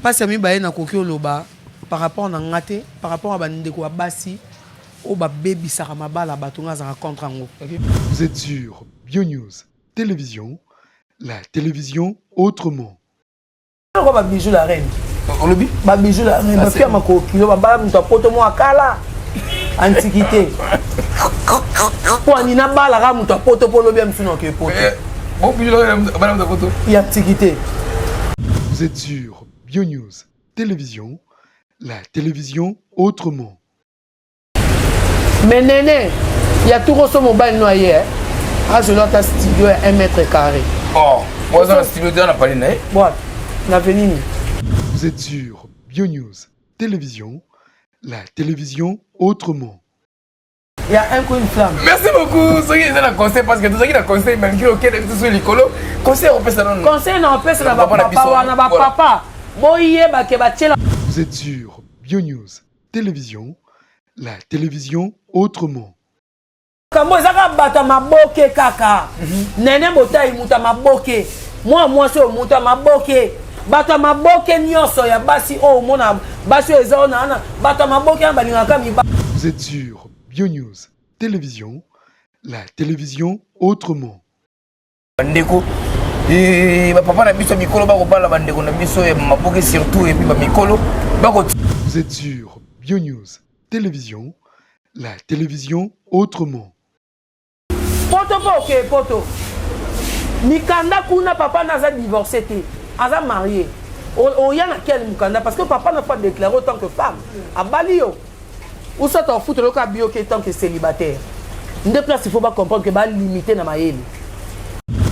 Pasi ya mibale nakoki oloba par rapport na nga te par rapport ya bandeko ya basi oyo babebisaka mabala bato nga azalaka contre yango Vous êtes sur Bionews Télévision, la télévision autrement. Pourquoi ba bijoux la reine olobi ba bijoux la reine ba fia makokilo ba bala mutu apoto mwa kala antiquité pwani nabalaka moto ya poto mpo lobi ya mosusu nake poto eh, ya antiquité vous êtes sur bio news télévision la télévision autrement mais nene ya tukoso mobali no aye azwela ata studio ya 1 mètre carré oh, oza na studio te na pali na ye na venini vous êtes sur bio news télévision la télévision autrement. Il y a un coup une flamme. Merci beaucoup. Soki eza na conseil parce que tozaki na conseil malgré okende biso sur likolo. Conseil opesa nanu. Conseil na opesa na ba papa wana ba papa. Boyeba ke batiela. Vous êtes sur Bio News Télévision, la télévision autrement. makambo eza kaka bato ya maboke kaka mhm. nene botai moto ya maboke mwana mwasi oyo moto ya maboke bato ya maboke nyonso ya basi oyo omona basi oyo eza ona wana bato ya maboke wana balingaka miba vous êtes sur bionews télévision la télévision autrement bandeko eh, bapapa na biso ya mikolo bakobala bandeko na biso ya maboke surtout epuis bamikolo bako vous êtes sur bionews télévision la télévision autrement poto mpo okeye poto mikanda kuna papa na aza divorce te aza marie oya na quel mukanda parce que papa na faut adeklare autant que femme abali yo ou soit en foot loka bioke tant que célibataire nde place il faut ba comprendre que ba limiter na mayele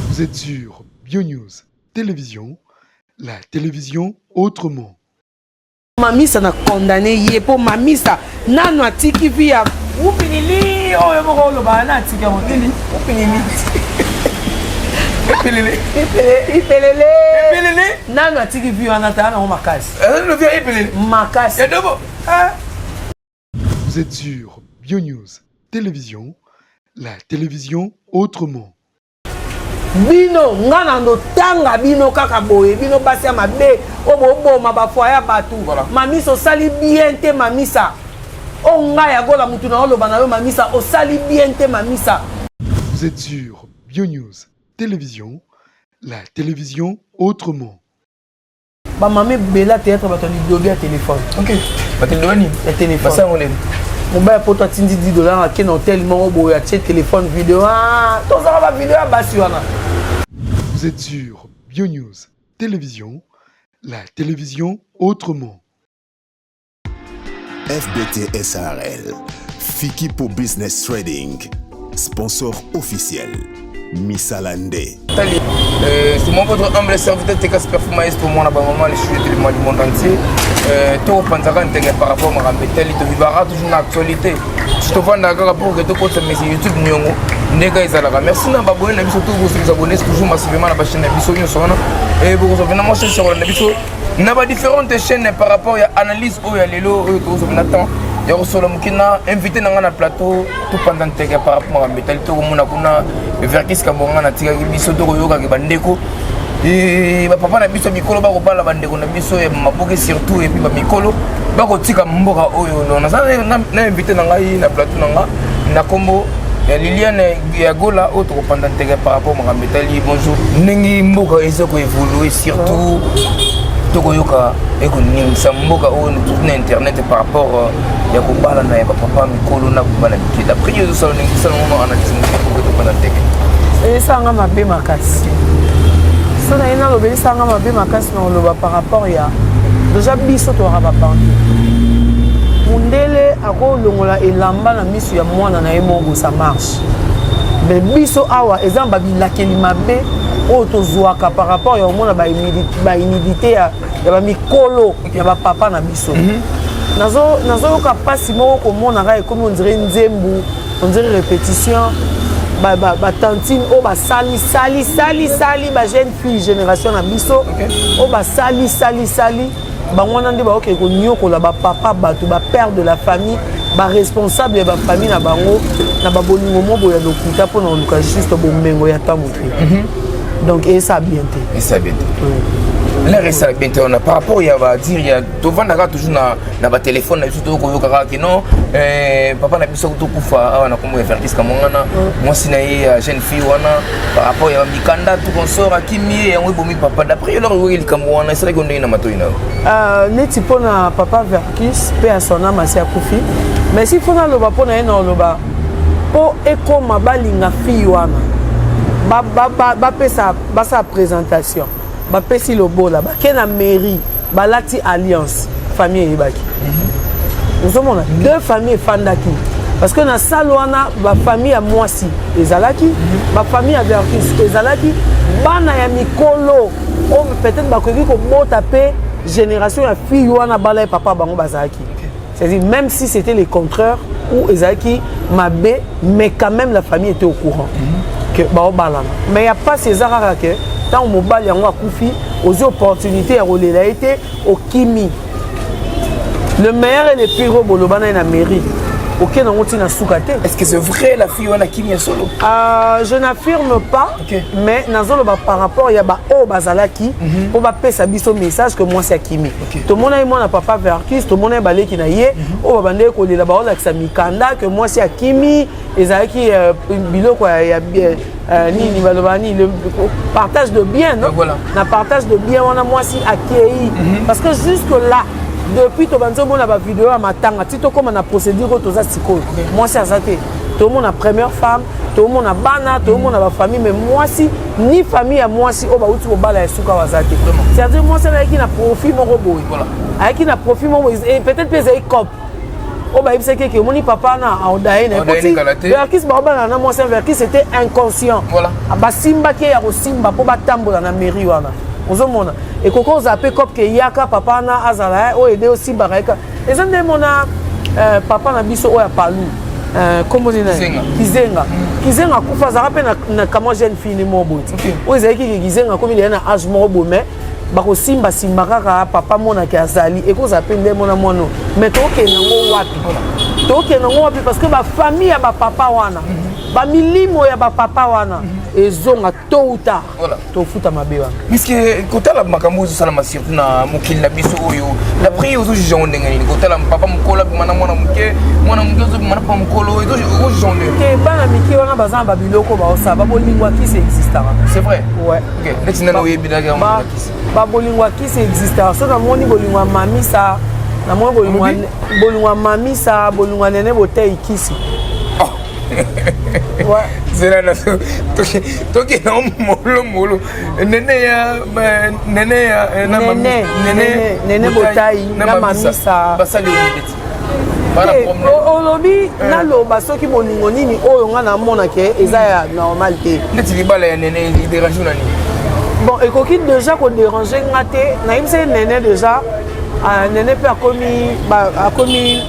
vous êtes sur Bio News télévision la télévision autrement mamisa na condamné ye po mamisa nanu atiki vi ya upilili oyo moko olobaka na atiki yango te upilili ipelele ipelele nanu atiki vi wana tala nango makasi makasi Ah! Vous êtes sur Bionews Télévision, la télévision autrement. bino nga na ndotanga bino kaka boye bino basi ya mabe oyo boboma bafoye ya bato voilà. mamisa osali bien te mamisa o oh, ngai ya gola motu na oloba na yo mamisa osali bien te mamisa vous êtes sur bionews télévision la télévision autrement Ba mamie bela théâtre bato lidobi ya téléphone. OK. Bato lidobi ni ya téléphone. Basango lelo. mobali poto atindi 10 dollar ake na hotel moko boye atie telefone video ah, tozala bavideo ya basi wana vous êtes sur bionews télévision la télévision autrement FBT SRL, Fikipo Business Trading, sponsor officiel. Misala nde. Tali, euh, c'est mon votre humble serviteur Teka Super Maestro, mon abba maman, les chutes du monde entier. Euh, tout panzaka ntenge par rapport à Marambe Tali, tu vivras toujours dans l'actualité. Je te vois d'accord pour que tu comptes mais c'est YouTube Nyongo. ndenge ezalaka merci na baboye na biso to bosokisa bonesi toujours masivema na bachaine na biso nyonso wana e bokozwa mpena mwa sesirole na biso na ba différentes chaînes par rapport ya analyse oyo ya lelo oyo tozozwa na temps ya kosolo moke na invité na ngai na plateau topanza nteke par rapport makambo etali tokomona kuna verkis kabonga natikaki biso tokoyokaki bandeko eh, bapapa na biso mikolo bakobala bandeko na biso ya maboke surtout epuis bamikolo bakotika mboka oyo no naza na invité na ngai na plateau na ngai na nkombo ya liliane ya gola oyo tokopanda nteke par rapport makambo etali bonjour ndenge mboka eza koevolue surtout tokoyoka ekoningisa mboka oyo tuti na internet par rapport euh, ya kobalana ya bapapa mikolo na kobala mike d'après yo ezosala ndenge kosala ngo analyse moke mboka tokopanda nteke esanga mabe makasi so na ye nalobelesanga mabe makasi na koloba par rapport ya deja biso towaka babantu mundele akolongola elamba na misu ya mwana na ye moko ça marche mais biso awa eza ba bilakeli mabe oyo tozwaka par rapport ya komona bahumidité ya bamikolo ya bapapa na biso mhm. nazoyoka mpasi moko komona ngai ekomi ondire nzembu ondire répétition batantine oyo basali sali sali sali bajeune fille génération na biso oyo basali sali sali bango wana nde baokende konyokola bapapa bato bapère de la famille baresponsable ya bafamille na bango na babolingo moko ya lokuta mpo na koluka juste bomengo ya ntango te mhm. donc esa bien te esa bien te lere esala bien te wana par rapport ya badire ya tovandaka toujours na, na batelefone na biso tokoyokaka ke non eh, papa na biso tokufa awa na kombo ya vertis kamongana mwasi na ye ya jeune fille wana par rapport ya bamikanda tokonsora kimie yango ebomi papa d'après yo eloko ngoki likambo wana esalaki yo ndenge na matoi na yo euh, neti mpo na papa vercus mpe ya son ame asi akufi mais si mpo naloba mpo na ye na oloba mpo ekoma balinga fille wana bapesa basala présentation bapesi lobola bake na mairie balati alliance famille eyebaki mhm. ozomona deux famille efandaki parce que na salle wana bafamille ya mwasi ezalaki mhm. bafamille ya vertus ezalaki bana ya mikolo oyo peut-être bakoki kobota mpe génération ya fille wana bala ye papa bango bazalaki C'est-à-dire même si c'était le contraire ou ezalaki mabe mais quand même la famille était au courant mm -hmm. que baobalana mais ya mpasi eza kaka ke ntango mobali yango akufi ozwi opportunité ya kolela ye te okimi le meilleur et le pire oyo boloba na ye na mairie okende yango ntina suka te est ce que c'est vrai la fille wana kimi ya solo euh, je n'affirme pas okay. mais nazoloba par rapport ya baoyo bazalaki mpo mm -hmm. bapesa biso message que mwasi akimi tomonaki mwana papa vercus tomonaki baleki na ye mhm. oyo babandaki kolela baolakisa mikanda ke mwasi akimi ezalaki euh, biloko ya euh, nini baloba nini partage de bien no na partage de bien wana mwasi akei mhm. parce que jusque là depuis tobandi omona bavideo ya matanga ti tokóma na procédure oyo toza sikoyo mwasi aza te tomona première femme tomona bana tomona bafamille mais mwasi ni famille ya mwasi oyo bauti kobala ya suka waza te c'est-à-dire mwasi yango ayaki na profit moko boye ayaki na profit moko boye peut-être mpe ezali cope oyo bayebisaki eke omoni papa na aodaye naverkis baobalana na mwasi ya verkis ete inconscient ah, basimbaki ye ya kosimba mpo batambola na mairie wana ozomona ekoki ozala mpe cope ke yaka papa na azala eh, oyo ede osimbaka yeka eza nde mona euh, papa na biso oyo apalu euh, kombo nini kizenga kizenga akufa azalaka mpe na, na kamwa jeune fille ni moko boye okay. oyo ezalaki ke kizenga akomi deya na age moko boye mai bakosimbasimba kaka papa monaki azali ekozala mpe nde mona mwana oyo mai tokokende yango wapi tokokende yango wapi parce que bafamille ya bapapa wana mhm. bamilimo ya bapapa wana mhm. ezonga tôt ou tard voilà. tofuta mabe wana puisque kotala makambo ozosalama surtout na mokili na biso oyo na prix ozojuge yango ndenge nini kotala papa mokolo abima na mwana moke mwana moke ozobima na papa mokolo ozojuge yango ndenge te bana mike wana baza na babiloko baosala babolingo akisi existaka c'est vrai ouais ok neti nani oyebi na yango akisi babolingo akisi existaka soki namoni bolingo ya mamisa namoni bolingo ya mamisa bolingo ya nene boteyi kisi zela na tokenda molo molo nene ya nene ya eh, nene botai na mamisa basali olibeti olobi eh. naloba soki bolingo nini oyo ngai namona ke eza ya normal te neti libala ya nene iderange na nini bon ekoki déjà koderange nga te nayebisa ye nene déjà Ah, Nene pe akomi ba- akomi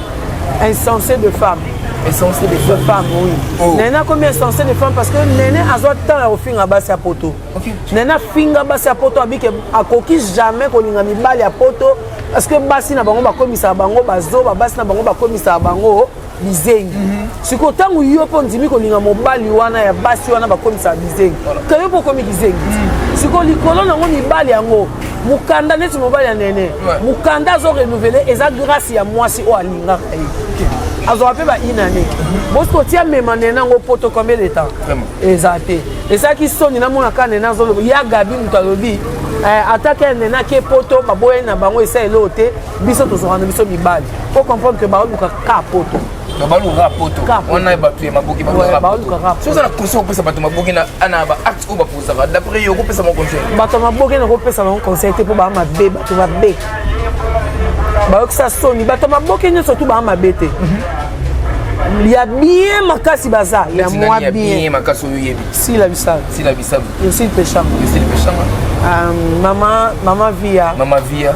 insensé de femme. Insensé de De femme, oui. Oh. Nene akomi insensé de femme parce que Nene azwa temps ya kofinga basi ya poto. Ok. Nene afinga basi ya poto abike akoki jamais kolinga mibali ya poto parce que basi na bango bakomisaka bango bazoba, basi na bango bakomisaka bango bizengi sikoyo ntango yo mpo ondimi kolinga mobali wana ya basi wana bakomisaka bizengi to yo mpo okomi kizengi mm. sikoyo likolo nango mibali yango mokanda neti mobali ya nene mokanda azo renouvele eza grâce ya mwasi oyo alingaka ye azwaka mpe bainane mhm. bosi kotia mema nene yango poto combien de temps eza te esalaki soni namonaka nene azoloba ya gabi moto alobi eh, atake ya nene ake poto baboyani na bango esa eloo te biso tozwaka na biso mibali po comprendre ke baoluka ka poto baluka poto wana bato ya maboki balukaoza na conseil okopesa bato maboki na baacte oyo bapozaka d'après yo okopesa bango conseil bato ya maboki na kopesa bango conseil te mpo baa mabe bato babe bayokisa soni bato ya maboki nyonso tu baa mabe te mhm. ya bien makasi baza ya mwa bien makasi oyo oyebi sila bisalu sila bisalu yosile peshanga yosile peshanga Euh, mama mama via mama via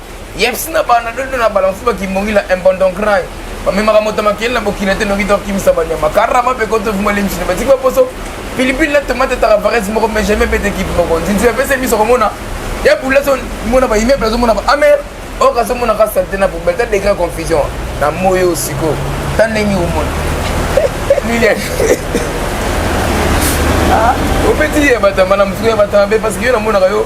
yebisi na bana dodo na bala mosusu bakimbongila imbondon cry bamemaka moto makeli na bokila te noki tokimisa banyama karama mpe koto vuma lemsino batiki baposo pilipili na tomate etaka varese moko mais jamais bete ekipe moko nzinzi bapesa miso komona ya bula so mona baimmeuble azomona ba amer oyo kazomona ka sante na poubelle ta degré confusion na moyi oyo sikoyo ta ndenge omona lilian ah, opeti ye batama na mosuku ya batama mpe parce que yo namonaka yo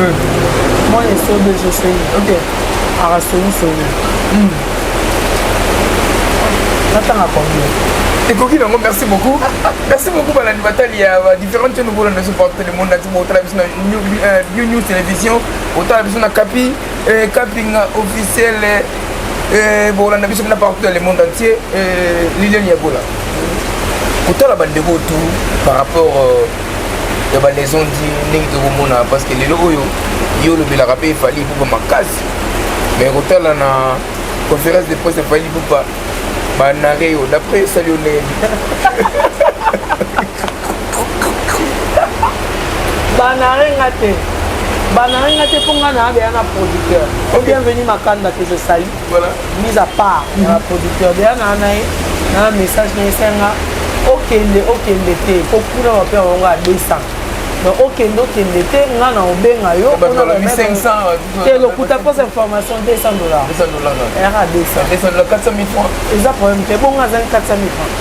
Euh. Moi, je suis de je suis. Ok. Alors, c'est où, c'est où hmm. Natanga combien ekoki nango merci beaucoup merci beaucoup balandi batali ya différentes chaîne okolanda biso porte le monde nati botala biso na new news télévision otala biso na kapi kaping euh, officiel euh, bolanda biso na partout dans le monde entier lilian yagola kotala bandeko tout par rapport ya ba leçon di ndenge tokomona parce que lelo oyo ye olobelaka mpe efali ipupa makasi mais kotala na conférence de presse efali ipupa banare yo d'après esali yo ndenge banare nga te banare nga te mpo nga na abeya na producteur o bienvenu makanda que je sali voilà mise à part mm -hmm. na producteur deya naa na ye na message na esenga okende okende te po kuna bape yango nga 200 donc okende okende te nga na obenga yo te lokuta pose information 200 dollars era 200 eza problème te bongo azali 400 000 francs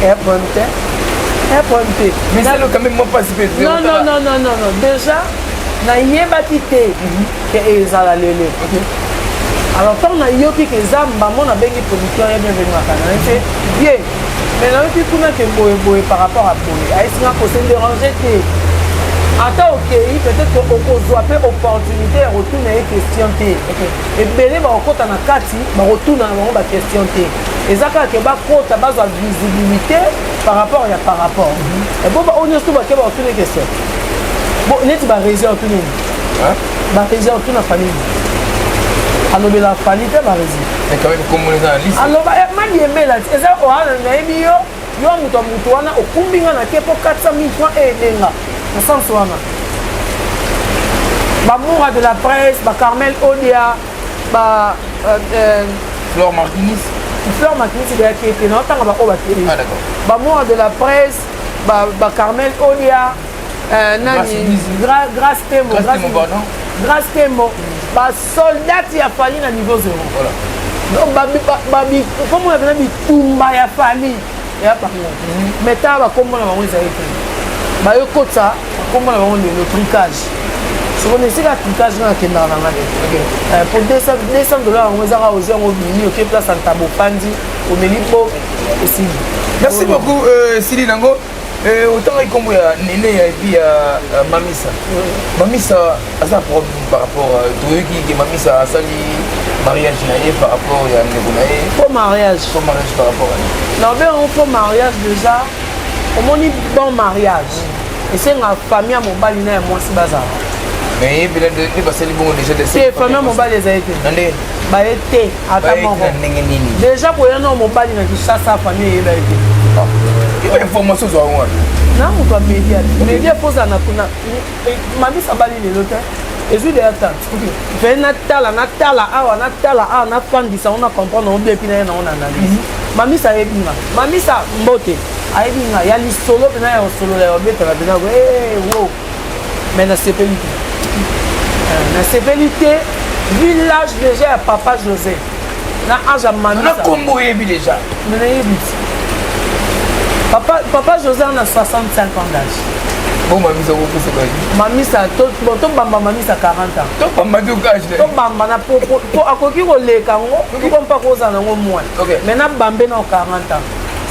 ea problème te ea problème te mais ça le quand même moi pas non non non non non déjà nayebaki te mhm. ke ezala lele alors ntango nayoki ke eza mbamo nabengi producteur ya bienvenaka na ye te ye mais nayoki kuna ke boye boye par rapport a boye ayesinga kose dérange te ata okei peut-être okozwa mpe opportunité ya kotuna ye question te ebele bakokɔta na kati bakotuna na bango baquestion te eza kaka ke bakɔta bazwa visibilité par rapport ya par rapport mhm. eboba oyo nyonso to bake bakotuna question neti bareserve to nini barezi awa tuna fani alobela fani te barezi aloba eh, madiembela ti eza oana nayebi yo yo moto ya moto wana okumbi nga na te mpo 400 000 franc eyendenga na sense wana bamoura de la presse bacarmel odia ba euh, euh, fleur martinis fleur martinis eyaki ete naotanga baoyo bateli bamoura de la presse bacarmel odia Euh, nani grace temo grace temo basoldati ya fali na niveau zero komona pena bitumba ya fali ya bango mhm. mai ntango bakombo na bango ezali te bayo kotisa bakombo na bango lelo tricage soki esika tricage nga nakendaka na nga te po 200 dollar yango ezaka ozwi yango obimi oke place ya ntabo opandi omeli po esili merci beaucoup euh, esili nango Eh, otanga ikombo ya nene ya epi ya euh, mamisa mamisa aza problème par rapport euh, toyoki ke mamisa asali mariage na ye par rapport ya ndeko na ye faux mariage faux mariage par rapport na obe yango faux mariage déjà omoni bon mariage esenga famille ya mobali na ya mwasi bazala mais ye mpena nde basali bongo déjà te famille ya mobali ezali te baye te ata moko ndenge nini deja koya nao mobali na kinshasa famille eyeba ye te information ozwa yango wapi na moto ya media media kozala na kuna eh, mamisa bali lelo te ezwi deya ta ve natala natala awa natala awa nafandisa yango na comprendre yango biepi na ye nango na analyse mhm. mamisa ayebi nga mamisa mbote ayebi nga ya lisolo mpena ya kosolola ya obetaka mpena wo mais nasepeli te euh, nasepeli te village déjà ya papa josé na age ya mananakombo oyebi déjà me nayebi ti papa, papa josé ana 65 ans d'age bon mamisa kokufa kaki mamisa tobamba mamisa 40 ans tobamba tokage tobamba na po akoki koleka yango toko mpa kozala nango mwana mais nabambe nao 40 ans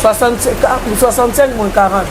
65 moins 40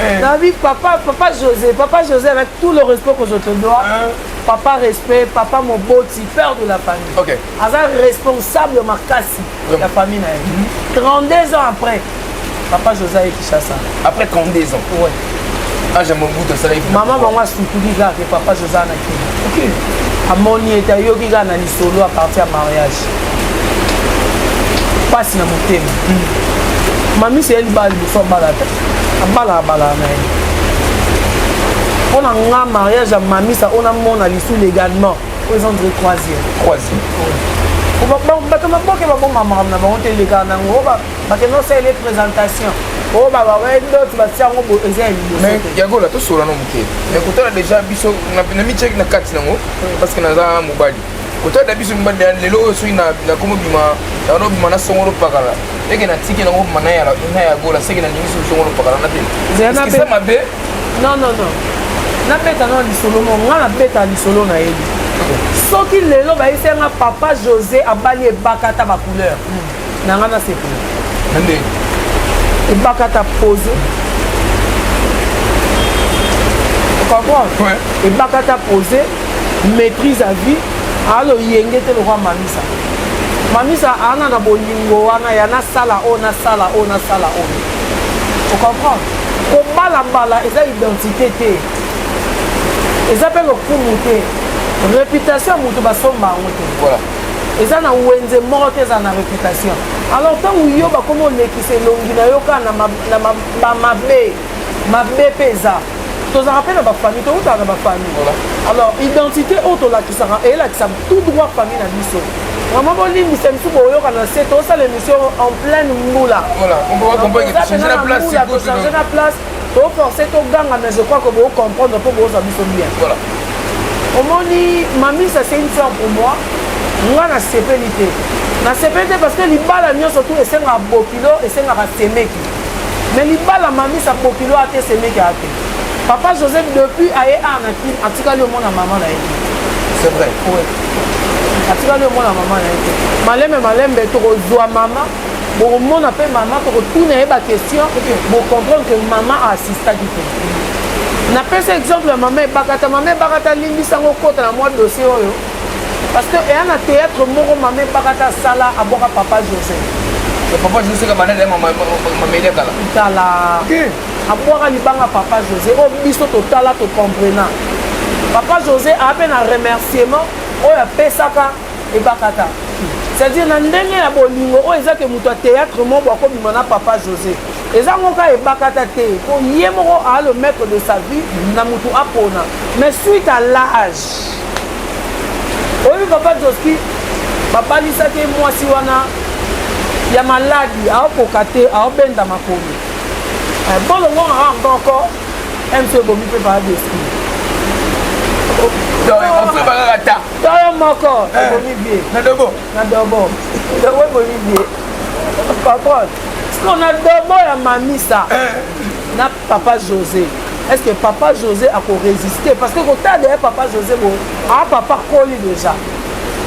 eh. nabi papa papa josé papa josé avec tout le respect que je te dois hein? papa respect papa moboti père de la famille okay. aza responsable makasi ya yeah. famille na ye mm -hmm. 32 ans après papa josé aye kinshasa après 32 ans ouais. age ya mobutu asalaki mama bango asukuli kaka ke papa josé na kini okay. amoni ete ayoki kaka na lisolo a partir ya mariage mpasi na motema mm. mamisi ye libala liboso abala te abala abala na ye mpo na nga mariage ya mamisa ona mona lisu légalement oyo eza ndire croisière croisière bato maboke baboma makambo na bango te elekaka na yango bakende osalela présentation oyo babawedote batia yango bo eza ya liboso yagola tosolana moke nakotala déjà biso na mityaki na kati nango parce que naza mobali kotala na biso mibanda ya lelo oyo soki nakomobima nakomobima na songolo pakala eke natiki nango bima na ya gola seke nalingi soki songolo pakala na te eza mabe non non non nabeta nao lisolo mo nga nabeta lisolo na yebi soki lelo bayesanga papa josé abali ebakata bacouleur na nga nasepela nde ebakata pose comprendre ebakata pose maîtrise à vie aloyenge te lokwa mamisa mamisa ana na bolingo wana ya nasala oyo nasala oyo nasala oyo ocomprendre kobalabala eza identité te eza mpe lokumu te réputation ya moto basomba yango te eza na wenze moko te ezala na reputation alors ntango yo bakomi olekisa elongi na yo kaka na bamabe mabe mpe eza tozalaka mpe na bafamille towutaka na bafamille alors identité oyo tolakisaka elakisa tout droit famille na biso vraiment bolimbisa bisu boyoka na se tosala émission en pleine mbula tozangena place to force to ganga mais je crois que bo comprendre po bo za biso bien voilà omoni mami ça c'est une fleur pour moi nga na sepeli te na sepeli te parce que libala nyonso tu esengaka bokilo esengaka semeki mais libala mami sa bokilo ate semeki ate papa josé depuis aye ar na kin atikali omona mama na ye c'est vrai ouais. atikali omona mama na ye te malembe malembe tokozwa mama bokomona mpe mama tokotuna ye baquestion bocomprendre que mama aassistaki mpe napesa exemple ya mama ebakata mama ebakata alimbisango okota na mwa dossier oyo parce que eya na théâtre moko mama ebakata asala abwaka papa joseph papa joseph abanele mamele kala kala abwaka libanga papa josé oyo oh, biso totala tocomprena papa josé aa mpe na remerciement oyo apesaka ebakata c'est-à-dire na ndenge ya bolingo oyo eza ke moto ya théâtre moko akobima na papa josé eza ngo kaka ebakata te mpo ye moko aa le maître de sa vie na moto apona mais suite à l'âge oyebi papa joski babalisaki ye mwasi wana ya maladi aokoka te aobenda makomi eh, bolongona kaka nkoko mc ebomi mpe papa joski donc on peut bakaka ta Solo moko eh. ebomi vie. Na dobo. Na dobo. Dobo ebomi vie. Patron. Siko na dobo ya mamisa. Eh. Na papa José. Est-ce que papa José a ko résister parce que kota derrière papa José bon. Ah papa koli déjà.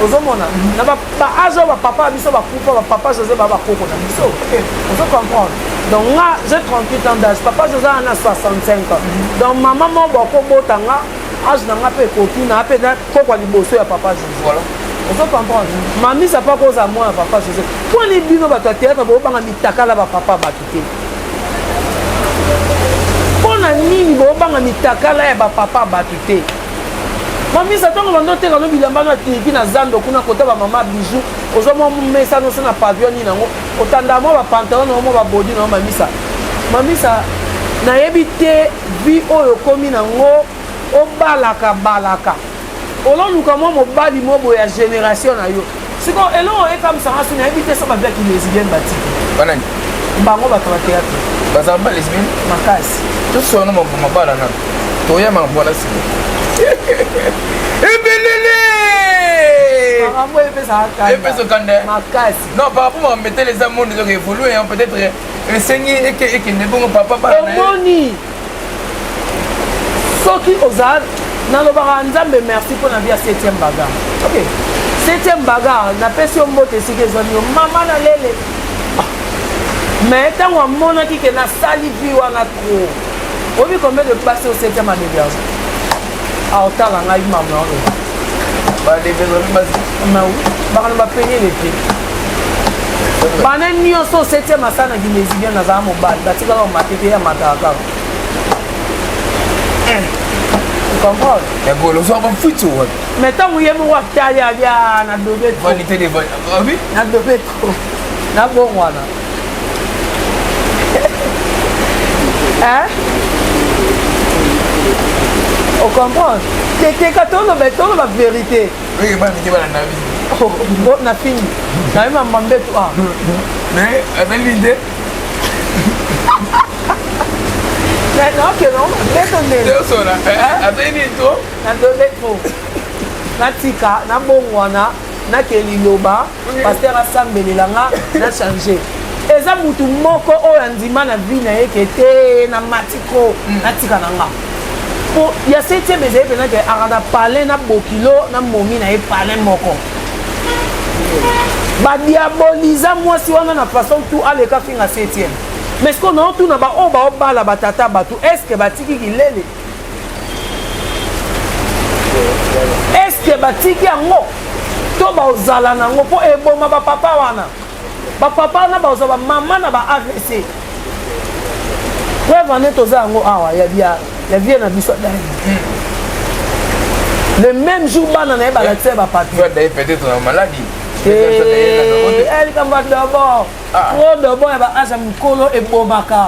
ozomona na baage oyo bapapa ya biso bakufa bapapa josé ba bakoko na biso ozo comprendre donc nga j'ai 38 ans d'âge papa josé ana 65 ans donc mama moko bakobota nga age na nga mpe ekoki na mpe kokwa liboso ya papa jose voilà ozo comprendre mamisa mpe akozala mwana ya papa jose mponi bino bato ya théâtre bobanga mitakala bapapa bato te mpo na nini bobanga mitakala ya bapapa bato te mamisa ntango bando oteka no bilamba na tiliki na zando kuna kota bamama bijou ozwa mwa mesa noso na pavio nini yango otanda mwa bapantalon na yo mwa babodi na yo mamisa mamisa nayebi te vie oyo okomi na ngo obalaka balaka ololuka mwa mobali mwa boye ya génération na yo sikoyo eloko ekamwisanga so nayebi te so babiaki lesbienne batiki banani bango bato bateyatre bazala ba lesbienne makasi tosona mabala nano toya mabwala sima ebelele makambo epesaka kanda makasi non par rapport ma metele eza monde ezoka evolue peut-être esengi eke ekende bongo papa omoni soki oza nalobaka nzambe merci mpo na bia 7e baga okay. 7e baga napesi yo mbote esika ezwami yo mama na lele ah. me ntango amonaki ke nasali vi wana tro oyebi combien de passe au 7e adeberge Ah, otala ngai mama oyo. Ba develop ba ma oui. Ba kana ba peine le te. Bana nyonso sete masana ginezi bien na za mobali. Ba tika ba matete ya mataka. Eh. comprendre ya golo so bafuti wapi mais ntango ye moko atali abia na dobe vanité de vanité ah na dobe trop na bongo wana hein? on comprend teteka toloba toloba vérité na fini naye mama mbetu a mais azali nde nakeno mbeto ndeazoki nini to nadobe trop natika nabongwana nake liloba paster asambelela nga na change eza mutu moko oyo andima na vie na ye ke te na matiko mm. natika na nga po ya septième ezali mpenza ke akanda palin na bokilo na momi na ye palin moko badiaboliza mwasi wana na façon tu aleka finga septième mais sikoyo naotuna baoyo baobala batata bato estce batiki kilele eske batiki yango to baozala na yango mpo eboma bapapa wana bapapa wana bazwa bamama na ba avc preuve ane toza yango awa ya vie na biso adai le même jour bana na ye balakisa ye bapapier likambo ya dobo trop dobo ya baage ya mikolo ebomaka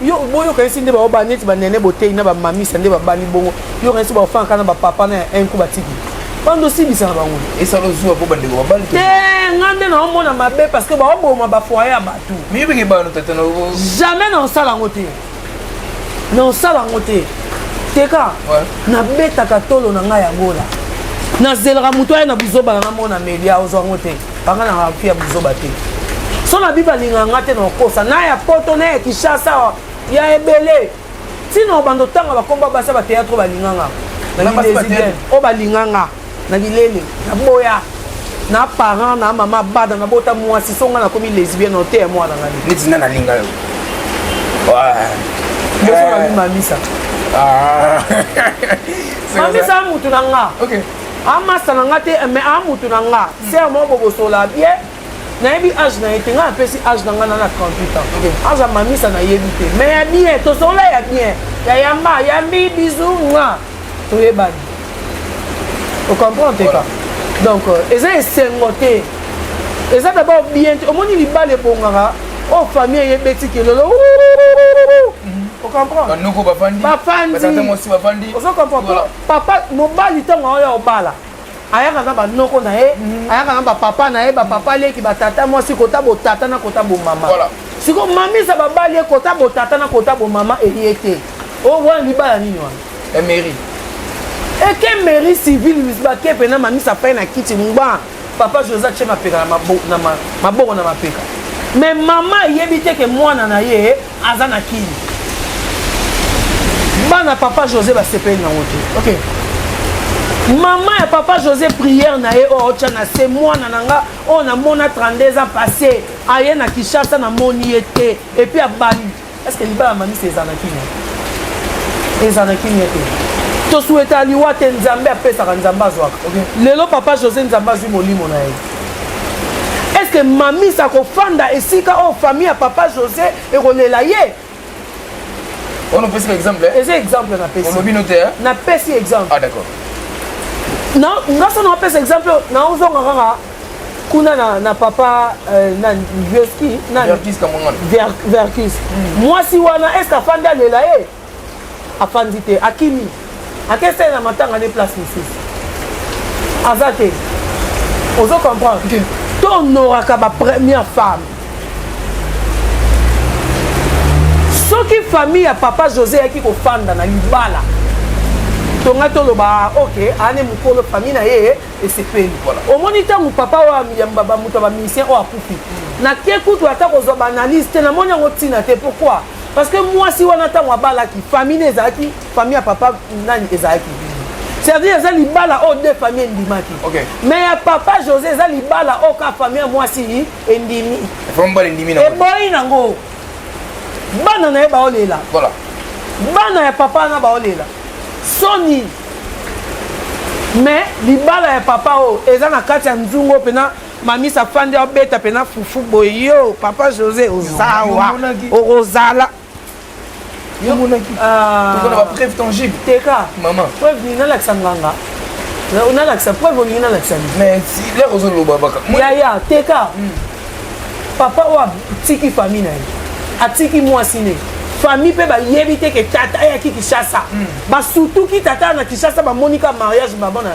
yo boyo okanisi nde bao ba neti banene boteyi na bamamisa nde babali bongo yo okanisi baofangaka na bapapa na ya un coup batiki bando osibisa na bango esala ozuwa mpo bandeko babali te nga nde naomona mabe parce que baoboma bafoye ya bato miyebeke bano tata na jamais naosala yango te naosala yango te teka nabetaka tolo na ngai ya gola nazelaka moto aya na buzoba na nga mona melia ozwa yango te Panga na nga fia buzoba te. So na biba linga nga te na kosa na ya poto na ya Kinshasa ya ebele. Tino bando tanga bakomba basa ba théâtre balinga nga. Na bidezidien o balinga nga na bilele na boya na parent na mama bada na bota mwasi so nga nakomi lesbienne o te ya mwana nga. Neti na nalinga yo. Yo so na mamisa. Ah. Mamisa mutu na nga. Okay. amasa na nga te eh, mais amutu na nga hmm. ser moko bobosola bie nayebi age na ye te ngai apesi age na ngai na na 38 ans aza mamisa nayebi te mais ya bien tosola ya bien ya yamba ya mbi bizu nga toyebani ocomprendre teka donc euh, eza esengo te eza dabord bien te omoni libala ebongaka oyo oh, famille eyebeti kelelo ocomprendre bafandi ozo comprendre papa mobali ntango aoya obala ayaka na banoko na ye mm. ayaka na bapapa na ye bapapa leki batata mwasi kota botata na kota bomama siko mamisa babali ye kota botata na kota bomama eye te o oh, wana libala nini wana emeri eh, eke eh, meri civile misbake mpena mamisa pai na kiti ngba papa joseph che mapeka na maboko na mapeka mais mama ayebi te ke mwana na ye aza na kin bana papa josé basepeli nango te ok mama ya papa josé prière na ye oyo otya na se mwana na nga oyo namona 32 ans passé aye na kinshasa namoni ye te epuis abandi estce libala mamisa eza na kimia eza na kimia te tosueta liwa te nzambe apesaka nzambe azwaka lelo papa josé nzambe azwi molimo na ye est ce que mamisa akofanda esika oyo famille ya papa josé ekolela ye on opesi ba exemple eh? eza exemple napesi olobi no te eh? napesi exemple ah d'accord na nga so napesa exemple naozonga kaka kuna na, na papa euh, na vioski verkis verkis mwasi wana est ce afandi alela ye afandi te akimi akesele na matanga ne place mosusu aza te ozo comprendre to honoraka ba première femme soki famille ya papa josé eyaki kofanda na libala tonga toloba ok ane mokolo famille na ye esepeli omoni ntango papa oyo bamoto ya bamisien oyo akufi nake kutu ata kozwa baanalyse te namoni yango ntina te pourquoi parce que mwasi wana ntango abalaki famille ne ezalaki famille ya papa nani ezalaki c'est-à-dire eza libala oyo deux famille endimaki okay. mais ya papa josé eza libala oyo ka famille ya mwasi endimi eboyi nango bana na ye baolela voilà. bana ya papa wana baolela soni mais libala ya papa oyo eza na kati ya nzungu mpena mamisi afandi abeta mpena fufu boye yo papa josé ozawa okozala yomonaki ah. tokona bapreuve tangible teka mama preuve nini nalakisa nganga nalakisa preuve olingi nalakisa lere ozoloba baka yaya teka hmm. papa oyo atiki famille na ye atiki mwasi ne famille mpe bayebi te ke tata ayaki kishasa hmm. basutuki tata na kishasa bamoni ka mariage babana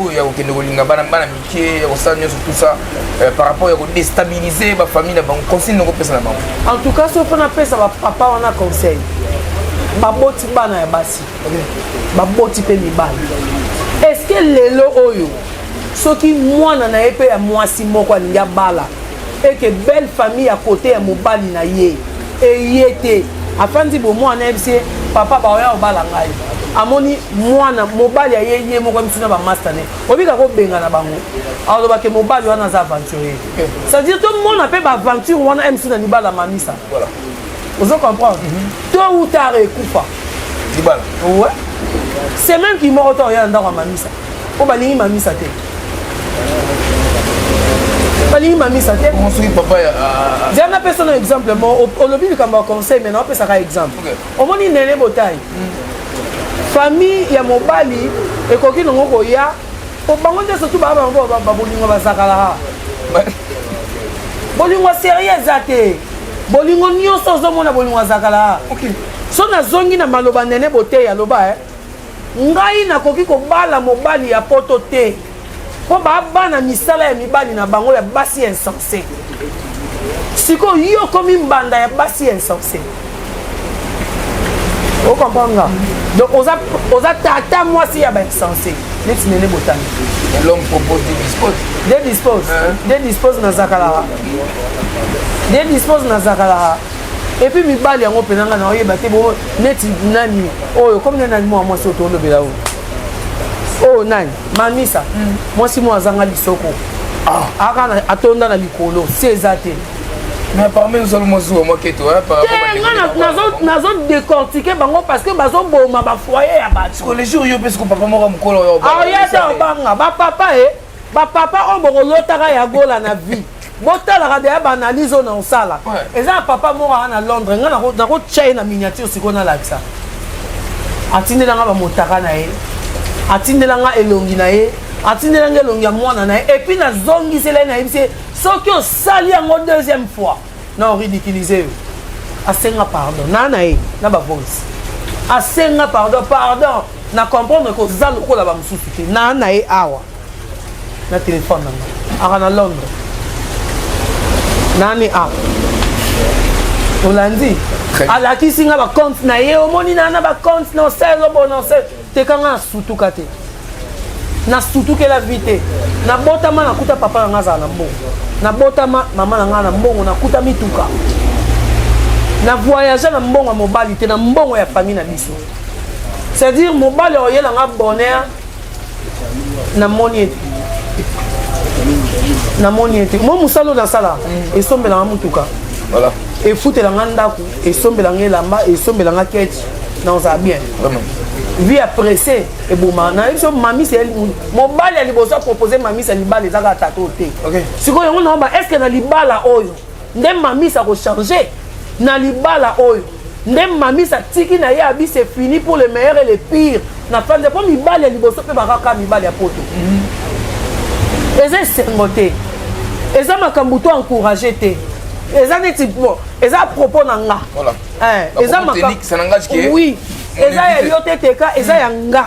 oyo ya kokende kolinga bana bana mike ya kosala nyonso tout ça euh, par rapport ya kodestabilise bafamille na bango conseil noko pesa na bango en tout cas soki mpona pesa bapapa wana conseil baboti bana ya basi baboti mpe mibali eske lelo oyo soki mwana na ye mpe ya mwasi moko alingi abala eke belle famille ya kote ya mobali na ye eye te afandi bomwana ayebisi ye papa baoya kobala ngai amoni mwana mobali aye ye moko amisi na bamasta ne obika kobengana bango alobake mobali wana aza aventurier c'est-à-dire tomona mpe baaventure wana mc na libala mamisa ozo comprendre to utare ekufa libala ouais c'est même qui moko to ya ndako mamisa po balingi mamisa te balingi mamisa te soki papa ya zela napesa no exemple mo olobi likambo ya conseil mai naopesaka exemple omoni nene botai famille ya mobali ekoki nango koya po bango nde surtout baa bango babolingo bazakalaka bolingo serie eza te bolingo nyonso ozomona bolingo azakalaa so nazongi na maloba nene boteyi aloba eh? ngai nakoki kobala mobali ya poto te mpo babana misala ya mibali na bango ya basi ya insense insensé sikoyo yo okomi mbanda ya basi ya insensé okomprendre nga donc oza, oza tata mwasi ya bainsensé neti nene botami l'homme propose de dispose de dispose de dispose na zakalaka de dispose na zakalaka epuis mibali yango mpena ngai naoyeba te bo neti nani oyo komi nani mwa mwasi oyo tolobela oyo oyo nani mamisa mm. mwasi moko azanga lisoko ah. aka atonda na likolo si eza te nazo décortiquer bango parce que bazoboma bafoye ya batoaoyata obanga bapapa e bapapa oyo bokolotaka ya gola na vie botalaka deya ba analyse oyo naosala eza ya papa moko aa na londres ngai nakotya ye na miniature sikoyo nalakisa atindela ngai bamotaka na ye atindela ngai elongi na ye atindela ngai elongi ya mwana na ye epuis nazongisela ye nayebisi ye soki osali yango deuxième fois na oridiculise yo asenga pardon naa na ye na bavoice asenga pardon pardon na comprendre koza lokola bamosusu te naa na ye awa na telefone na ngai aka na londre nani a olandi alakisi nga bacompte na ye omoni na na bacompte na osel obona osel teka nga nasutuka te nasutukela vi te nabotama nakuta papa na nga azala na mbongo nabotama mama na nga na mbongo nakuta mituka na voyage na mbongo ya mobali te na mbongo ya famille na biso c'est-à-dire mobali oye na nga bonheur namoni ete namoni ete mwa mosala oyo nasala esombelanga motuka efutelanga ndako esombelanga elamba esombelanga keti naozala bien vie ya presse eboma nayebi biso mamisa mobali ya liboso apropose mamisa libala ezaka tata oyo te sikoyo yango naoba estce na libala oyo nde mamis ako changer na libala oyo nde mamis atiki na ye abi c'est fini pour le meilleur et le pire na fanza mpo mibali ya liboso mpe bakaka mibali ya poto eza esengo te eza makambo to encourage te eza neti bon eza propos na nga eh, eza makambo oui eza ya yo te teka eza ya nga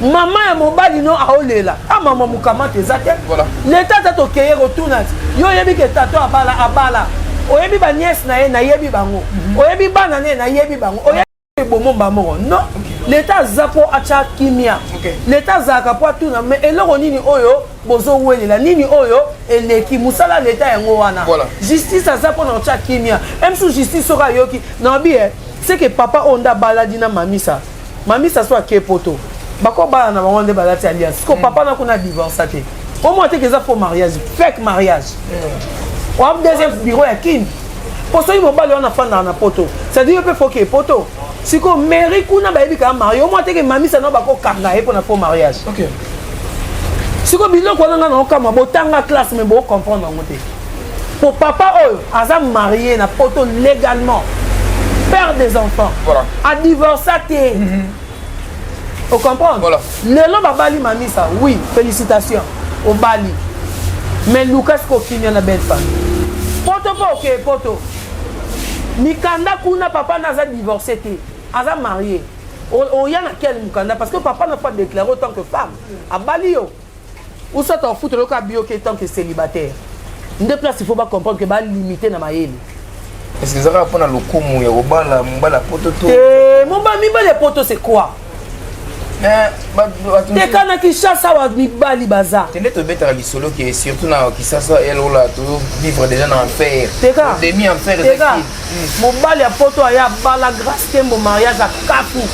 mama ya mobali no aolela a ah, mama mokamata eza te leta ata tokeye kotuna yo oyebi ke tato abala abala oyebi baniese na ye nayebi bango mhm. oyebi bana na ye nayebi bango oyebi ebomomba moko no leta aza mpo atya kimia leta azalaka mpo atuna me eloko nini oyo bozowelela nini oyo eleki mosala leta yango wana justice aza mpo na kotya kimia msu justice soki ayoki naobi e eh, seke papa oyo nde abaladi na mamisa Mami Sassou ake poto. Bako bana na bango nde balati alliance. Siko mm. papa na kuna divorce te. Au moins te keza faux mariage, fake mariage. Mm. Wa deuxième bureau ya Kin. Po soki mobali wana fanda na poto. Ça dit pe faut que poto. Siko mairie kuna bayebi ka marié. Au moins te ke mami sa na bako kanga ye pona faux mariage. OK. Siko biloko wana nga na okama botanga classe mais bo comprendre yango te. po papa oyo aza marie na poto légalement père des enfants voilà. adivorça te mm -hmm. ocomprendre voilà. lelo babali mamisa oui félicitation obali mais luka siko okimia na belle famille poto mpo okeye poto mikanda kuna papa na aza divorcé te aza marie oya na quel mokanda parce que papa na pas déclaré autant que femme abali yo ou soit afutela yo kaka bioke tant que célibataire nde place il faut ba comprendre que ba limiter na mayele est-ce que ezalaka mpo na lokumu ya kobala mobali ya poto to eh, mobali mibali ya poto c'est quoi eh, teka na kinshasa wa mibali baza tende tobetaka lisolo ke surtout na kisasa elola to vivre déjà na enfer demi enfer teka mobali ya poto aye abala grace tembo mariage akaku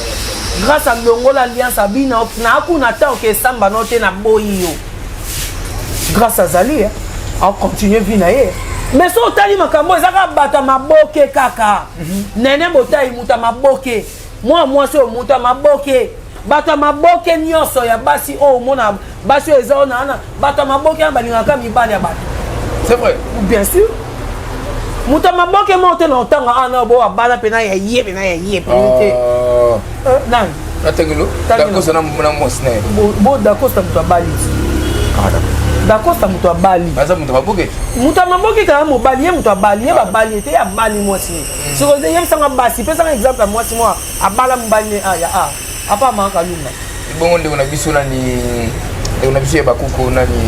grace alongola alliance abina nakuna ata oke esamba no te naboyi yo grace azali acontinue vie na ye me so otali makambo eza kaka bato ya maboke kaka mhm. nene botai moto ya maboke mwana mwasi oyo moto ya maboke bato ya maboke nyonso ya basi oyo omona basi oyo eza ona wana bato ya maboke wana balingaka mibali ya bato c'est vrai bien sûr moto ya maboke moko te na otanga awa na obo abala mpena ya ye mpena ya ye mpeni te ah. eh, nani natangelo dakosa na mwasi na ye bo dakosa moto abali ah, dakosa moto abali aza moto maboke moto ya maboke kaka mobali ye moto abali ye babali ye te ye abali mwasi soki oze yebisanga basi pesanga exemple ya mwasi mwa abala mobali ne a ya a apa amaka lunga ebongo ndeko na biso nani ndeko na biso ya bakuku nani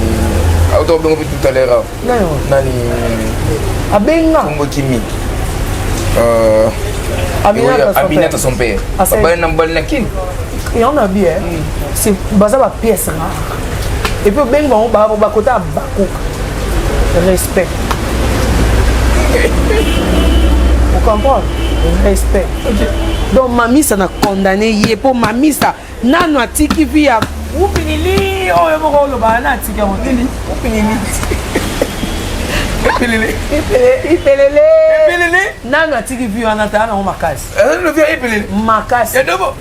auta obengo mpe tout à l'heure nani abenga kombo kimi euh, aminata son père babali na mobali na kini yango na bie baza bapièce rare et puis obengi bango babo bakota ya bakuk respect ocomprendre respect donc mamisa na condamne ye mpo mamisa nano atiki vi ya upilili oyo moko olobaka na atiki yango te upilili ipelele ipelele nano atiki vi wana tala nango makasi makasi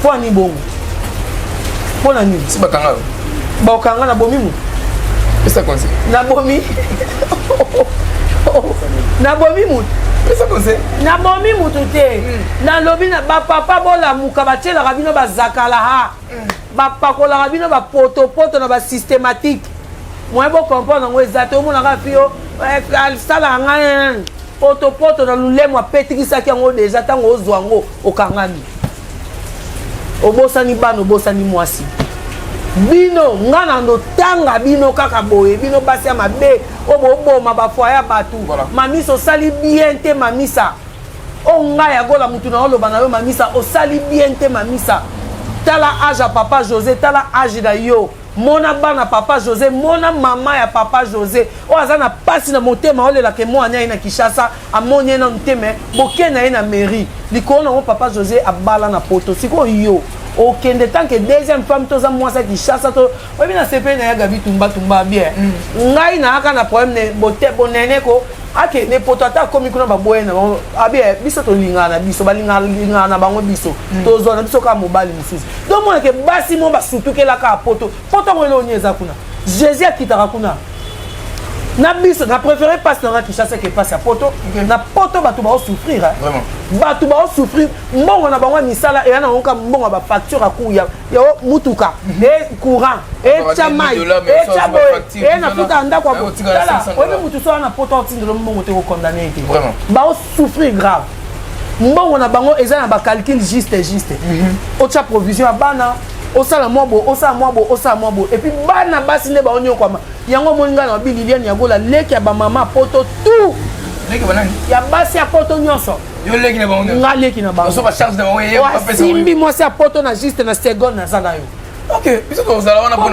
mpo ani bongo mpo na nini si bakanga yo bakokanga na bomi moto pesa conseil na bomi na bomi moto pesa conseil na bomi moto te hmm. nalobi na bapapa bolamuka batielaka bino bazakala ha hmm. bapakolaka bino bapotopoto na basystematique moye bocomprendre yango eza te omonaka fio eh, asalaka ngai potopoto na lulemo apetikisaki yango deja ntango ozwa yango okangami obosani bana obosani mwasi bino nga na ndotanga bino kaka boye bino basi ya mabe oyo boboma bafoye ya bato mamisa osali bien te mamisa o ngai yagola motu na oloba na yo mamisa osali bien te mamisa tala age ya papa josé tala age na yo mona bana papa josé mona mama ya papa josé oyo aza na mpasi na motema olelaka emwana ye na kinshasa amoni ye nanu te me boke na ye na mairie likolo nango papa josé abala na poto sikoyo yo okende tanke deuxième femme toza mwasi ya kinshasa to oyebi na sepeli na ya gabi tumbatumba bien mm. ngai nayaka na problème ne bote bonene ko akende poto ata akomi kuna baboye na bango abi eh, biso tolingaka na biso balingaka na bango biso mm. tozwa na biso kaka mobali mosusu donc monake basi mo basutukelaka poto poto yango elongi eza kuna jésus akitaka kuna na biso na préféré mpasi nanga kinshasa ke mpasi ya poto na poto bato baosouffrir bato baosouffrir mbongo na bango ya misala eya na yango ka mbongo ya bafacture ya yo mutuka e courant etya mai etya boye e nafuta ya ndako tala oyebi motu so wana poto otindelo mbongo te kokondane ete baosouffrir grave mbongo na bango eza na bacalcule juste juste mhm. otya provision ya bana osala mwa bo osala mwa bo osala mwa bo epuis bana basi nde baonyokwama yango omoni ngai na babililiane ya gola leki ya bamama poto tout ya basi ya poto nyonso nga leki na bangoasimbi mwasi ya poto na juste na seconde naza na yo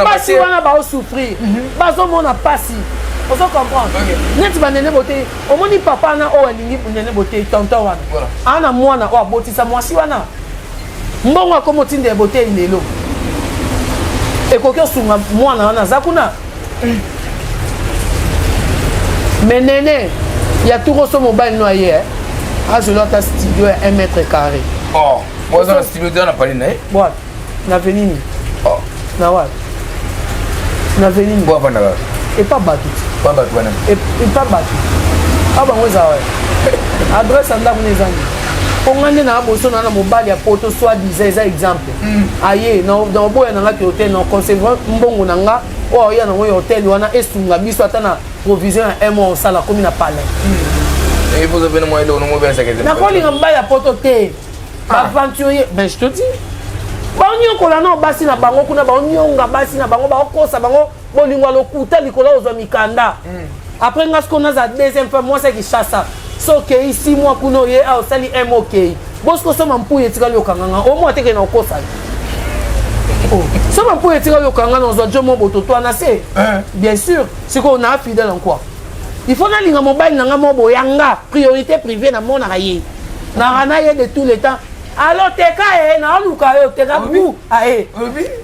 basi wana baosouffrir mhm. bazomona mpasi ozo comprendre neti banene boteyi omoni papa wana oyo alingi nene boteyi tonton wana aa na mwana oyo abotisa mwasi wana mbongo akomotinda ya boteyi lelo ekoki osunga mwana wana aza kuna mais nene ya tukoso mobali no aye eh? azwela ata studio ya 1 mètre carré oh, oza na studio te na pali na ye wapi na veni nini oh. na wapi na veni nini bwafanda kaka epa bato pa bato wana epa bato a bango eza wapi adresse ya ndako na ezangi mpo ngai nde na boso na na mobali ya poto soit disa eza exemple Hmm, aye na oboya na nga ke hotel na conserva mbongo na nga oyo aoya nango ya hotel wana esunga biso ata na provision ya un mois osala komi na palais hmm. nakolinga mobali ya poto te ah. aventurier ben je te dis baonyokola nao basi na bango kuna baonyonga basi na bango baokosa bango bolingo ya lokuta likolo ozwa mikanda mm. après nga siko naza deuxième fois mwasi ya kishasa so okei si mwa kuna oye a ah, osali m okei bosiko soma mpuyi etikali okanganga omwa teke na okosani oh. soma mpuyi etikali okanga na ozwa jomo bototwa na se eh. bien sûr sikoyo naa fidèle en quoi il faut nalinga mobali na nga moko boyanga priorité privée namonaka ye naka na ye de tout le temps aloteka ye naoluka ye oteka bu aye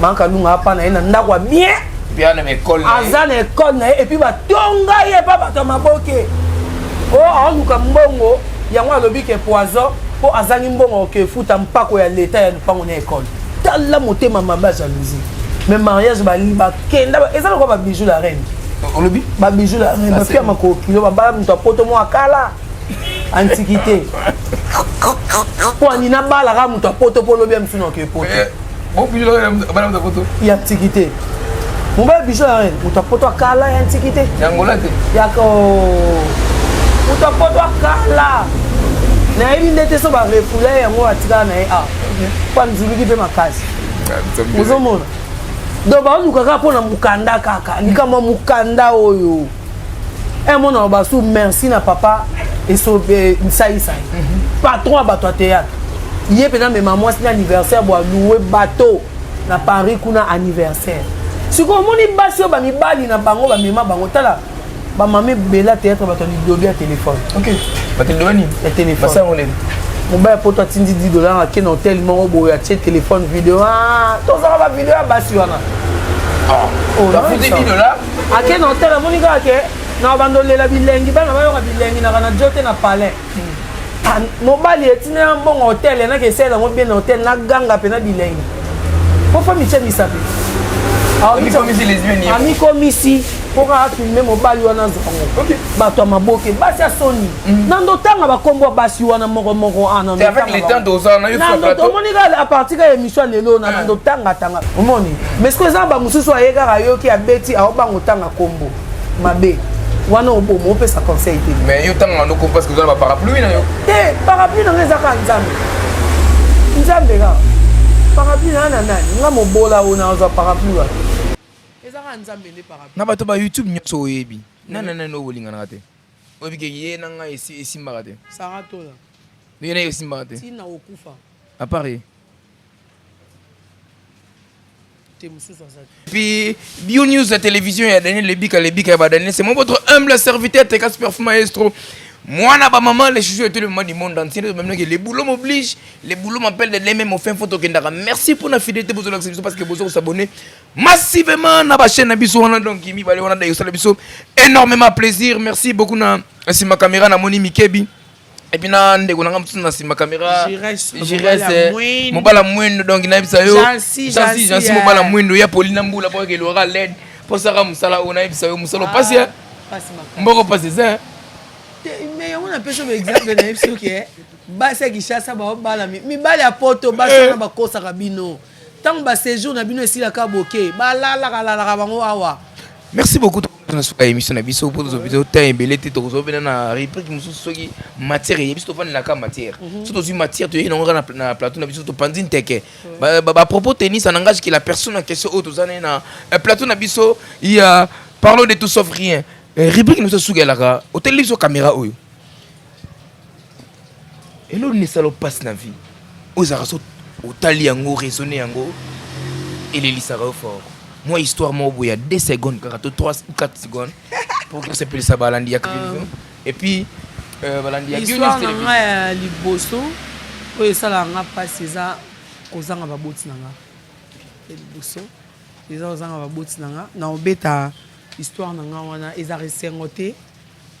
Banque Alunga apa na ye na ndako ya bien. Bien na école. Aza na école na ye et puis ba tonga ye pa bato maboke. Oh aluka mbongo yango alobi ke poison po azangi mbongo ke futa mpako ya leta ya lupango na école. Tala motema mamba jalousie. Mais mariage ba liba kenda eza lokola ba bijoux la reine. Olobi ba bijoux la reine ba pia makokilo ba bala moto apoto mo akala. antiquité mpo ani nabalaka moto ya poto mpo lobi ya mosusu nake poto eh, ya antiquité mobali biso ya rene moto ya poto akala ya antiquité yangola te yako moto ya poto akala nayebi nde te so barefula yango atikala na ye a ah, mpo anzuluki mpe makasi ozomona donc baoluka kaka mpo na mokanda kaka likambo ya mokanda oyo un mot na loba su merci na papa esaisai eh, mhm. patron ya bato ya théâtre ye mpenza mema mwasi na anniversaire bwa loue bateau na paris kuna anniversaire sikoyo omoni basi oyo bamibali na bango bamema bango tala bamama ebela théâtre bato ya lidobi ya téléphone ya téléphone mobali ya poto atindi 10 dollar ake na hotel moko boye atie téléphone video ah, tozala bavideo ya basi wana ah, oh, ake na hotel amoni kaka ke na bando lela bilengi bana bayoka bilengi naka na jote na palais ah, mobali etina ya mbongo hotel enaka esalela yango bien na hotel na ganga mpe na bilengi mpo fami tya misape amikomisi mpo kaka filme mobali wana azango bato ya maboke basi ya soni na ndotanga bakombo ya basi wana moko moko ah, omoni kaka aparti kaka émission ya lelo na ndotangatanga omoni mais siko eza na bamosusu aye kaka ayoki abeti aobango otanga kombo mabe wana obomo opesa conseil te mais yo tanga noko parce que oza na baparapluie na yo te parapluie na nga eza kaka nzambe nzambe kaka parapluie na nga na nani nga mobola oyo nazwa parapluie wana eza kaka nzambe nde parapluie na bato ba youtube nyonso oyebi nana nani obolinganaka te Oyebi ke ye na ngai esi esimbaka te. Sarah Tola. Ye na ye esimbaka te. Tina okufa. À part ye. Te mususu azali. Puis Bio News la télévision ya Daniel Lebika Lebika ya ba Daniel c'est mon votre humble serviteur Teka Superfou Maestro. mwana bamama le chouchou eteli mama du monde entier nde tobaminoki le boulot m'oblige le boulot m'appelle de demain mofin fo tokendaka merci mpo na fidélité bozolakisa biso parce que bozo kosabone massivement na ba chaîne na biso wana donc mibale wana da yosala biso énormément plaisir merci beaucoup na sima caméra na moni mikebi et puis na ndeko na nga mosusu na sima caméra giresse mobala mwendo donc nayebisa yo jansi jansi mobala mwendo ya poli na mbula po ekelora led mpo saka mosala oyo nayebisa yo mosala opasi ya mboko pasi eza mais yango napesi yo exemple nayebisi yo ke basi ya kinshasa baobalami mibali ya poto basi wana bakosaka bino Tango ba sejour na bino esilaka boke ba lalaka lalaka bango awa. Merci beaucoup na suka émission na biso mpo tozobi temps ebele te tokozwa mpena na réplique mosusu soki matière eye biso tovandelaka matière mhm. so tozwi matière toyei nango kaka na plateau na biso topanzi nteke mhm. bapropos tennis en langage que la personne en question oyo toza naye na eh, plateau na biso ya parlons de tout sauf rien eh, réplique na biso suka elaka oteleli biso caméra oyo Elo ni salo passe na vie ozaka so otali yango raisonne yango elelisaka yo fort mwa histoire moko boye ya 2 secondes kaka to 3 ou 4 secondes pour que osepelisa balandi ya television et puis euh, balandi ya histoire na nga ya liboso oyo esalaka nga mpasi eza kozanga baboti na nga ya liboso eza kozanga baboti na nga na obeta histoire na nga wana eza resengo te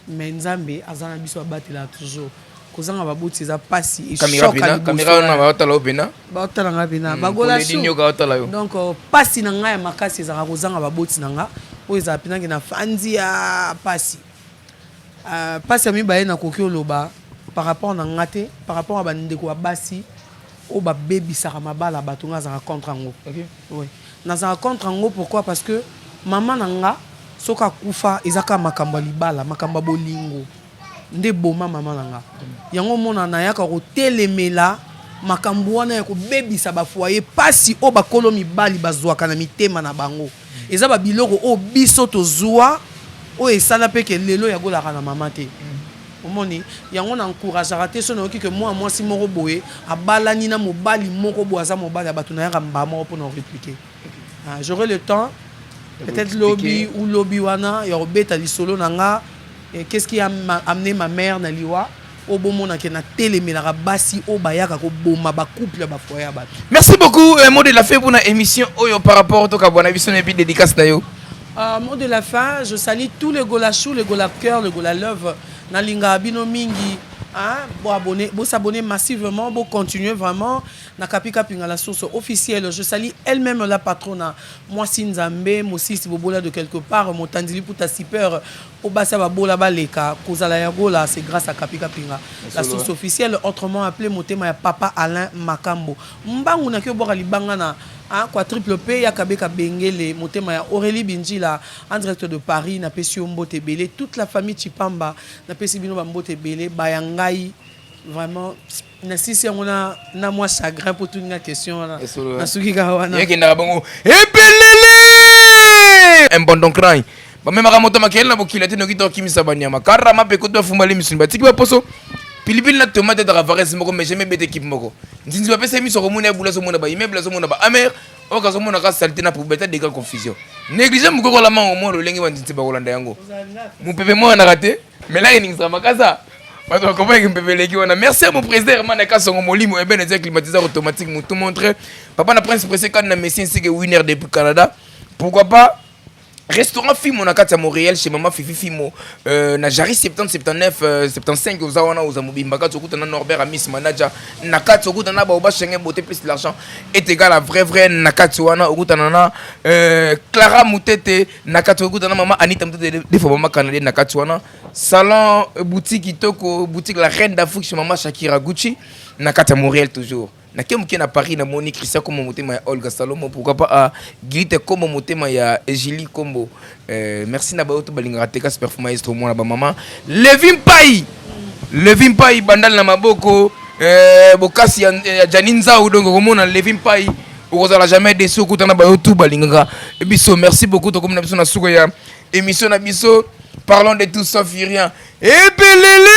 Mais nzambe aza na biso abatela toujours kozanga baboti eza pasi baotala nga pena hmm, bagoladonc euh, pasi na ngai ya makasi ezalaka kozanga baboti na nga oyo ezala penaki na fandi ya pasi euh, pasi ya mibale nakoki oloba par rapport na nga te par rapport ya bandeko ya basi oyo babebisaka mabala bato nga azalaka contre yango Nazalaka contre yango pourquoi parce que maman na nga soki akufa eza kaka makambo ya libala makambo ya bolingo nde eboma maman na nga yango omona nayaka kotelemela makambo wana ya kobebisa ba foyer pasi oyo bakolo mibali bazwaka na mitema na bango eza ba biloko oyo biso tozwa oyo esala mpe ke lelo yagolaka na mama te Omoni? Yango na encouragaka te soki nayoki que mwana mwasi moko boye abalani na mobali moko boye aza mobali ya batu nayaka mbaa moko pona ko repliquer. J'aurai le temps peut etre lobi ou lobi wana ya kobeta lisolo na nga qu'est ce qui a amener ma mère na liwa oyo bomona ke natelemelaka basi oyo bayaka koboma bacouple ya bafoye ya bato merci beaucoup euh, mode la fe mpona émission oyo par rapport tokabwana biso na epi dédicace na yo Uh, mot de la fin, je salue tous les golachou, les golapkeurs, les golalove. Nalinga bino mingi. Hein? Bon abonné, bon s'abonner massivement, bon continuer vraiment. Nakapika pinga la source officielle. Je salue elle-même la patrona. Moi Sinzambe, Mosisi Bobola de quelque part, mon tandili pour ta super. Obasa Babola Baleka, Kozala Yagola, c'est grâce à Kapika Pinga. La source officielle, autrement appelée Motema ya Papa Alain Makambo. Mbangu na kio bwaka libanga na a quadruple pe ya kabeka bengele motema ya Aurelie Bindila en direct de Paris na pesi yo mbote ebele toute la famille Tshipamba na pesi bino ba mbote ebele ba ya ngai vraiment na sisi yango na na mwa chagrin po tuni nga question wana na suki ka wana yekendaka bongo ebelele un bon don cry bamemaka moto makele na bokila te noki tokimisa banyama karama mpe kutu bafumbali misuni batiki baposo pilipili na tomate etaka varese moko mais jamais bete ekipe moko nzinzi bapesa ye miso akomona ya bula azomona baimmeuble azomona baamer oyo kazomona ka salite na poubete adega confusion néglige mokokola mango mwa lolenge banzinzi bakolanda yango mopepe moyanaka te melaki ningisaka makasa bato bakomaki mpepe eleki wana merci ya moprésident herman akasongo molimo ebene eza climatiseur automatique motu montre papa na prince presse kani na messi nsike winner depuis canada pourquoi pas restaurant fimo na kati ya montréal chez mama fifi fimo euh, na jari 70 79 euh, 75 oza wana oza mobimba kati okuta na norbert amis manager na kati okuta na baoba chenge bote plus l'argent est égal à vrai vrai na kati wana okutana na euh, clara mutete na kati okuta na mama anita mutete defo mama canadien na kati wana salon euh, boutique kitoko boutique la reine d'afrique chez mama shakira gucci na kati ya montréal toujours nake moke na paris namoni christian kombo motema ya olga salomo pourquoi pas ah, gilite kombo motema ya egili kombo euh, merci na bayo to balingaka te kasi perfu maestro mwana bamama levi mpai levi mpai bandali na maboko euh, bokasi ya, ya jani nzau donc okomona levi mpai okozala jamais desu okuta na bayo tu balingaka biso merci beaucoup tokomi na biso na suka ya émission na biso parlons de tout sauf rien ebelele